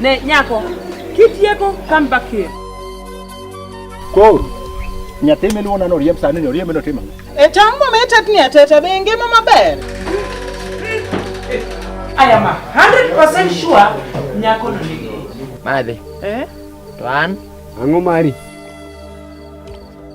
Ne nyako, kitieko come back here. Koro nyathi miluwo nano riemb sani ni oriembe notimo ang'o? E tong' mometetni ateta be ngima maber. I am 100% sure nyako no nigi. Madhi. Eh? To an? Ang'o mari?